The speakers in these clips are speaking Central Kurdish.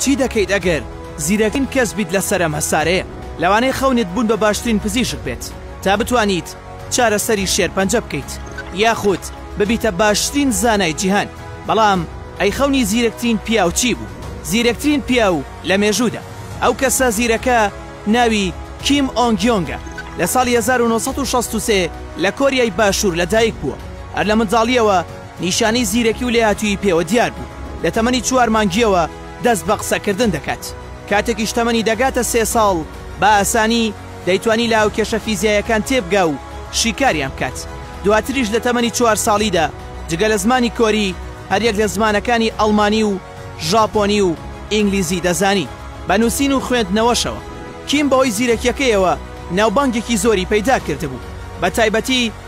چی دەکەیت ئەگەر زیرەکترین کەس بیت لەسەر ئەم هەسارەیە؟ لەوانەیە خەونت بوون بە باشترین پزیشک بێت تا بتوانیت چارەسەری شێرپەنجە بکەیت یاخود ببیتە باشترین زانای جیهان بەڵام ئەی خەونی زیرەکترین پیاو چی بوو؟ زیرەکترین پیاو لە مێژوودا ئەو کەسە زیرەکە ناوی کیم ئۆنگ یۆنگە لە ساڵی 1963 لە کۆریای باشوور لەدایک بووە هەر لە منداڵییەوە نیشانەی زیرەکی و لێهاتوویی پێوە دیار بوو، لە تەمەنی چوار مانگییەوە دەست بە قسەکردن دەکات، کاتێکیش تەمەنی دەگاتە سێ ساڵ بە ئاسانی دەیتوانی لە هاوکێشە فیزیاییەکان تێبگا و شیکاریان بکات، دواتریش لە تەمەنی چوار ساڵیدا جگە لە زمانی کۆری هەریەک لە زمانەکانی ئەڵمانی و ژاپۆنی و ئینگلیزی دەزانی. بە نووسین و خوێندنەوەشەوە کیم بەهۆی زیرەکییەکەیەوە ناوبانگێکی زۆری پەیدا کردبوو، بەتایبەتی،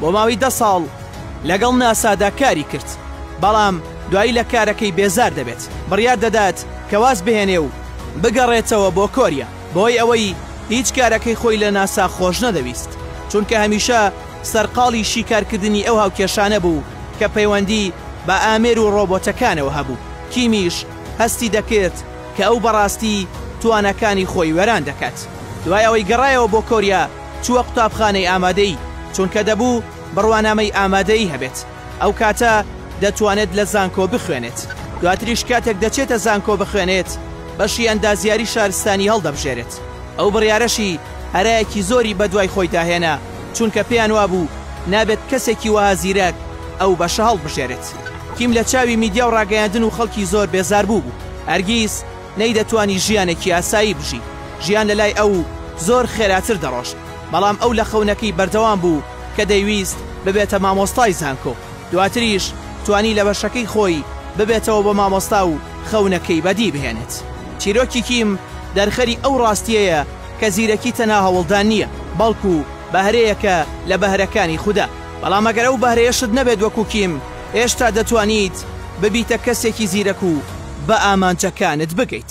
بۆ ماوەی دە ساڵ لەگەڵ ناسادا کاری کرد، بەڵام دوایی لە کارەکەی بێزار دەبێت، بڕیار دەدات کە واز بهێنێ و بگەڕێتەوە بۆ کۆریا، بەهۆی ئەوەی هیچ کارەکەی خۆی لە ناسا خۆش نەدەویست، چونکە هەمیشە سەرقاڵی شیکارکردنی ئەو هاوکێشانە بوو کە پەیوەندی بە ئامێر و ڕۆبۆتەکانەوە هەبوو، کیمیش هەستی دەکرد کە ئەو بەڕاستی تواناکانی خۆی وێران دەکات، دوای ئەوەی گەڕایەوە بۆ کۆریا، چووە قوتابخانەی ئامادەیی، چونکە دەبوو بڕوانامەی ئامادەیی هەبێت، ئەو کاتە دەتوانێت لە زانکۆ بخوێنێت، دواتریش کاتێک دەچێتە زانکۆ بخوێنێت بەشی ئەندازیاری شارستانی هەڵدەبژێرێت، ئەو بڕیارەشی هەرایەکی زۆری بەدوای خۆیدا هێنا، چونکە پێیان وابوو نابێت کەسێکی وەها زیرەک ئەو بەشە هەڵبژێرێت. کیم لە چاوی میدیا و ڕاگەیاندن و خەڵکی زۆر بێزار بووبوو، هەرگیز. نەیدەتوانی ژیانێکی ئاسایی بژی، ژیان لە لای ئەو زۆر خێراتر دەڕۆشت، بەڵام ئەو لە خەونەکەی بەردەوام بوو کە دەیویست ببێتە مامۆستای زانکۆ، دواتریش توانی لە بەشەکەی خۆی ببێتەوە بە مامۆستا و خەونەکەی بەدی بهێنێت. چیرۆکی کیم دەرخەری ئەو ڕاستییەیە کە زیرەکی تەنها هەوڵدان نییە، بەڵکو بەهرەیەکە لە بەهرەکانی خودا. بەڵام ئەگەر ئەو بەهرەیەشت نەبێت وەکو کیم هێشتا دەتوانیت ببیتە کەسێکی زیرەک و بە ئامانجەکانت بگەیت.